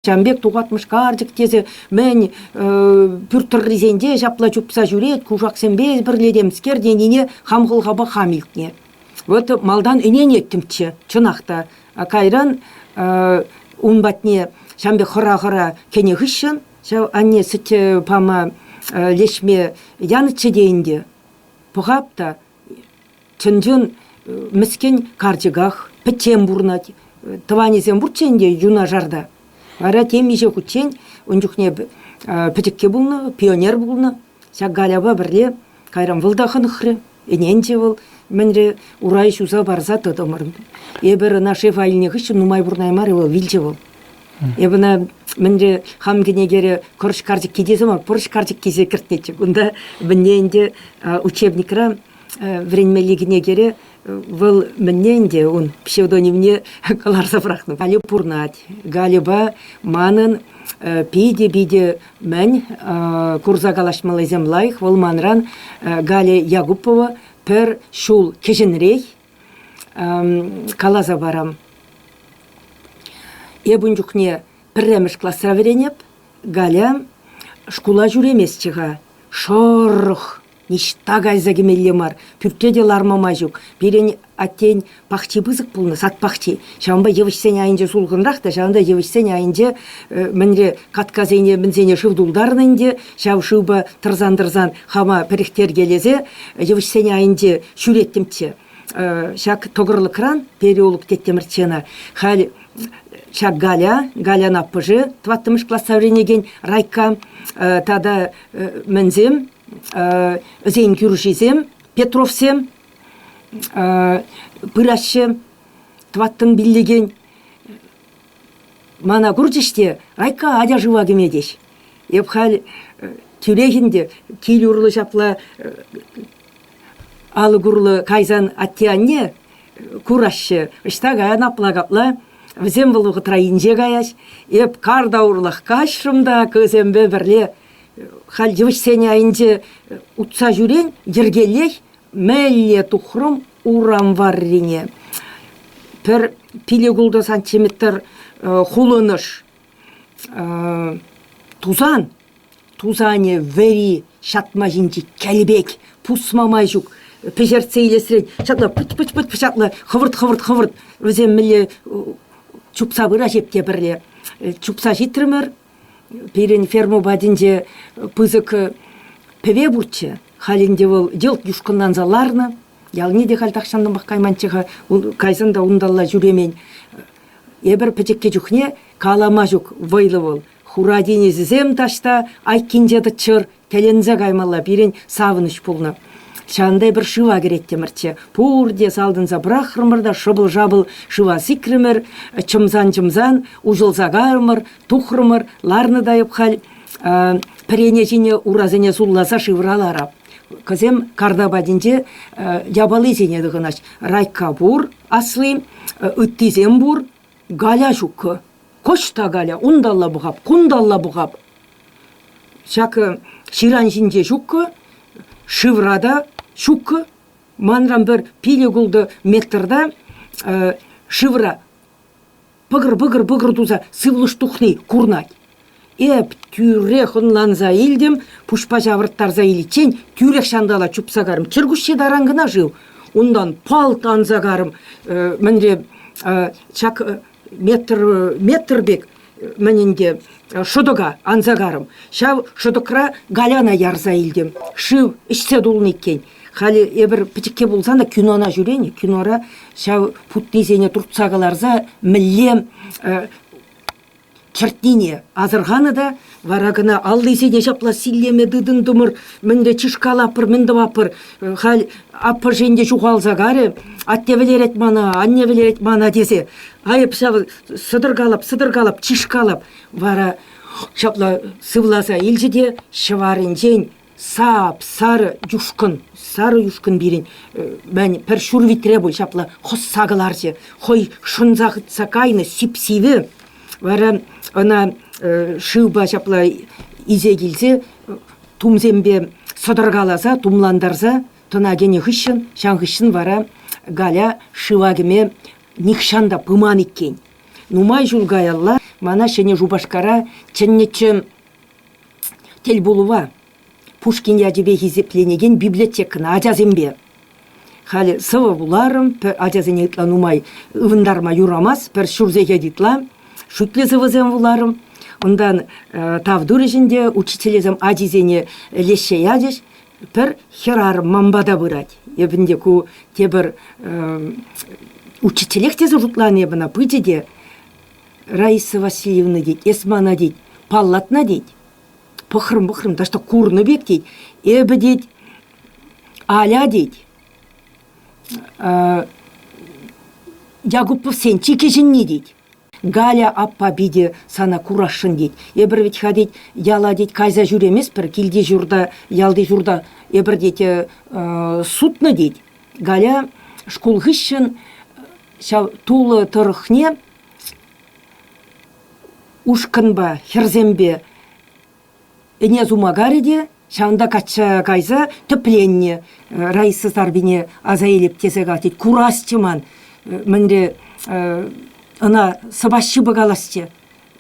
Ҫавӑн пек тухатмӑш карчӑк тесе мӗн пӳрт тӑррисенче ҫапла чупса ҫӳрет, кушаксемпе пӗрле темскер тенине хам хӑлхапа хам илтнӗ. Вот малтан ӗненеттӗмччӗ, чӑнах та. Кайран ун патне ҫавӑн пек хӑра-хӑра кӗнӗ хыҫҫӑн ҫав анне сӗт пама леҫме янӑччӗ те ӗнтӗ. Пӑхап та, Чӑн-чӑн мӗскӗн карчӑках, пӗччен пурӑнать. Тӑванӗсем пурччӗ ӗнтӗ юнашарта. Вара темиҫе хутчен ун чухне пӗчӗкке пулнӑ, пионер пулнӑ. Ҫак Галяпа пӗрле кайран вӑл та хӑнӑхрӗ. Ӗненчӗ вӑл, мӗнре урай ҫуса парса тӑтӑмӑр. Эпир ӑна шеф айӗнне хыҫҫӑн нумай пурӑнаймарӗ вӑл, вилчӗ вӑл. Эпӗ ӑна мӗнле хам кӗнекере кӑрӑш карчӑкки тесе ма пӑрӑш карчӑккисе кӗртнӗччӗ. Кунта мӗнне ӗнтӗ учебникра вӗренмелли кӗнекере вӑл мӗнне ӗнтӗ ун псевдонимне кӑларса пӑрахнӑ. Галю пурнать. Гальӑпа манӑн питӗ-питӗ мӗн курса калаҫмаллисем лайӑх. Вӑл манран Галя Якупова пӗр ҫул кӗҫӗнрех каласа парам. Эп ун чухне пӗрремӗш класра вӗренеп, Галя шкула ҫӳреместчӗ-ха. Шӑрӑх, ниҫта кайса кӗмелле мар, пӳртре те ларма май ҫук. Пирӗн аттен пахчи пысӑк пулнӑ, сад пахчи. Ҫавӑнпа йывӑҫсен айӗнче сулхӑнрах та, ҫавӑнта йывӑҫсен айӗнче э, мӗнре каткасене мӗнсене шыв тултарнӑ ӗнтӗ, ҫав шывпа тӑрсан-тӑрсан хама пӗрӗхтеркелесе йывӑҫсен айӗнче ҫӳреттӗмччӗ. Э, ҫак тӑкӑрлӑкран переулок теттӗмӗрччӗ ӑна. Халь ҫак Галя, Галян аппӑшӗ, тӑваттӑмӗш класса вӗренекен Райка э, тата мӗнсем, ӗсен кӳршисем, Петровсем пыраҫҫӗ. тӑваттӑн пиллекен мана курчӗҫ те Райкка атя шыва кӗме теҫ. Эп халь тӳрех ӗнтӗ кил урлӑ ҫапла алӑк урлӑ кайсан атте-анне кураҫҫӗ. Ӑҫта каян апла-капла. Вӗсем вӑл вӑхӑтра инҫе каяҫ. Эп карта урлӑх каҫрӑм та кӑсемпе пӗрле халь йывӑҫсен айӗнче утса ҫӳрен йӗркеллех Мӗнле тухрӑм урам варрине? Пӗр пиле кулнӑ сантиметр хулӑнӑш тусан, тусанӗ вӗри ҫатма ҫинчи кӗлпек пусма май ҫук пӗҫертсе илесрен ҫакна пӑч-пӑч-пӑч ҫакна хӑвӑрт-хӑвӑрт-хӑвӑрт вӗсем мӗнле чупса пыраҫ эп те пӗрле чупса ҫитрӗмӗр. Пирӗн ферма патӗнче пысӑк пӗве пурччӗ. Халь ӗнтӗ вӑл йӑлт юшкӑнланса ларнӑ. Ялне те халь тахҫантанпах кайманччӗ-ха. Кайсан та унталла ҫӳремен. Эпир пӗчӗккӗ чухне калама ҫук вӑйлӑ вӑл. Хура тинӗсӗсем таҫта айккинче тӑччӑр, Тӗлӗнсе каймалла пирӗн савӑнӑҫ пулнӑ. Ҫавӑнтай пӗр шыва кӗреттӗмӗрччӗ. Пурте салтӑнса пӑрахрӑмӑр та шӑпӑл-шапӑл шыва сикрӗмӗр, чӑмсан-чӑмсан усӑлса кайрӑмӑр, тухрӑмӑр. Ларнӑ та эп халь пӗрене ҫине урасене сулласа шывра ларап. Кӑсем карта патӗнче япалисене тӑхӑнаҫ. Райкка пур асли, ыттисем пур. Галя ҫуккӑ. Кӑҫ та Галя, унталла пӑхап, кунталла пӑхап. Ҫакӑ ҫыран ҫинче ҫуккӑ, шывра та ҫуккӑ. Манран пӗр пилӗк-ултӑ метрта шывра пӑкӑр-пӑкӑр-пӑкӑр туса сывлӑш тухни курӑнать. Эп тӳрех ӑнланса илтӗм, пуҫпа ҫавӑрттарса иличчен тӳрех ҫантала чупса карӑм. Чӗркуҫҫи таран кӑна шыв. Унтан палт анса карӑм. Э, мӗнре э, ҫак э, метр метр пек мӗн ӗнтӗ шӑтӑка анса карӑм. Ҫав шӑтӑкра Галяна ярса илтӗм. Шыв ӗҫсе тулнӑ иккен. Халӗ эпир пӗчӗкке пулсан та кинона ҫӳрен, кинора ҫав путтисене туртса кӑларса мӗнле Чӗртнине асӑрханӑ та вара кӑна аллисене ҫапла силлеме тытӑнтӑмӑр. Мӗнле чышкалаппӑр, мӗн тӑваппӑр. Халь аппӑш ӗнтӗ ҫухалса карӗ. Атте вӗлерет мана, анне вӗлерет мана тесе. Айӑп ҫав, сӑтӑркалап, сӑтӑркалап, чышкалап. Вара ҫапла сывласа илчӗ те ҫӑварӗнчен Сап, сарӑ юшкӑн, сарӑ юшкӑн пирӗн, мӗн, пӗр ҫур витре пуль ҫапла хӑсса кӑларчӗ. Хӑй шӑнса хытса кайнӑ сип-сивӗ вара ӑна шывпа ҫапла исе килсе тумсемпе сӑтӑркаласа, тумлантарса тӑна кӗнӗ хыҫҫӑн, ҫан хыҫҫӑн вара Галя шыва кӗме нихҫан та пыман иккен. Нумай ҫул каялла мана Ҫӗнӗ Шупашкара чӗннӗччӗ Тӗлпулӑва Пушкин ячӗпе хисепленекен библиотекӑна ачасемпе халӗ сӑвӑ вуларӑм, пӗр ачасене ытла нумай ывӑнтарма юрамасть, пӗр ҫур сехет ытла шӳтлӗ сӑвӑсем вуларӑм. Унтан э, тав турӗҫ ӗнтӗ учительсем ачисене леҫсе ячӗҫ. Пӗр хӗрарӑм ман пата пырать. Эпӗ ӗнтӗ ку тепӗр э, учителех тесе шутланӑ эп ӑна пычӗ те Раиса Васильевна тет, эс мана тет, паллатна тет, пӑхрӑм-пӑхрӑм, та что курнӑ пек тет, эпӗ тет, Аля тет, Якуповсен чи кӗҫӗнни тет. Галя аппа питӗ сана курасшӑн тет. Эпӗр вӗт-ха тет, яла тет кайса ҫӳреместпӗр, килти ҫурта, ялти ҫурта эпӗр тет сутнӑ тет. Галя шкул хыҫҫӑн ҫав тулӑ тӑрӑхне ушкӑнпа, хӗрсемпе ӗне сума карӗ те ҫавӑнта качча кайса тӗпленнӗ. Раиса Сарпине аса илеп тесе калать, курасчӗ ман, мӗнре ӑна сӑваҫҫӗ пӑкаласчӗ.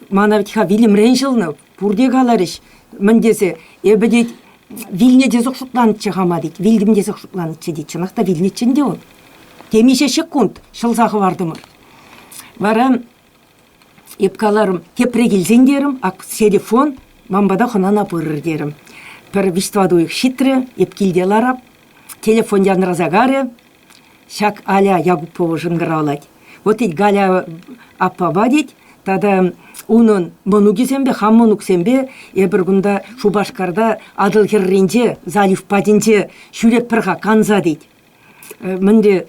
Мана вӗт-ха вилӗмрен ҫӑлнӑ Пурте каларӗҫ, мӗн тесе, эпӗ тет, вилнӗ тесех шутланӑччӗ хама тет, вилтӗм тесех шутланӑччӗ тет, чӑнах та вилнӗччӗ ӗнтӗ ун. Темиҫе ҫеккунт ҫӑлса хӑвартӑмӑр. Вара эп каларӑм, тепре килсен терӗм, ак серефон, ман пата хӑнана пырӑр терӗм. Пӗр виҫ-тӑват уйӑх ҫитрӗ, эп килте ларап, телефон янраса карӗ, Ҫак Аля Якупова шӑнкӑравлать. Вот тет Галя аппапа тет тата унӑн мӑнукӗсемпе, хам мӑнуксемпе эпир кунта Шупашкарта Атӑл хӗрринче залив патӗнче ҫӳретпӗр-ха канса тет. Мӗнле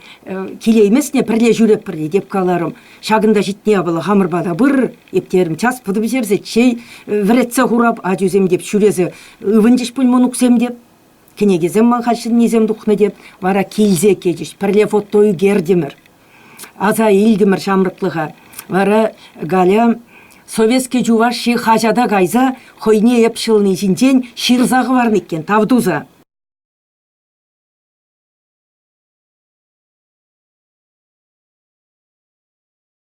килейместне пӗрле ҫӳретпӗр тет эп каларӑм. Ҫакӑнта ҫитнӗ япала хамӑр пата пыр эп терӗм час пӑтӑ пӗҫерсе чей вӗретсе хурап ачусем теп ҫӳресе ывӑнчӗҫ пуль мӑнуксем теп. Кӗнекесем ман хаҫатнисем тухнӑ те вара килсе кӗчӗҫ. Пӗрле фото ӳкертӗмӗр. Аса илтӗмӗр ҫамрӑклӑха. Вара Галя Советски Чуваши хаҫата кайса хӑйне эп ҫӑлни ҫинчен ҫырса хӑварнӑ иккен, тав туса.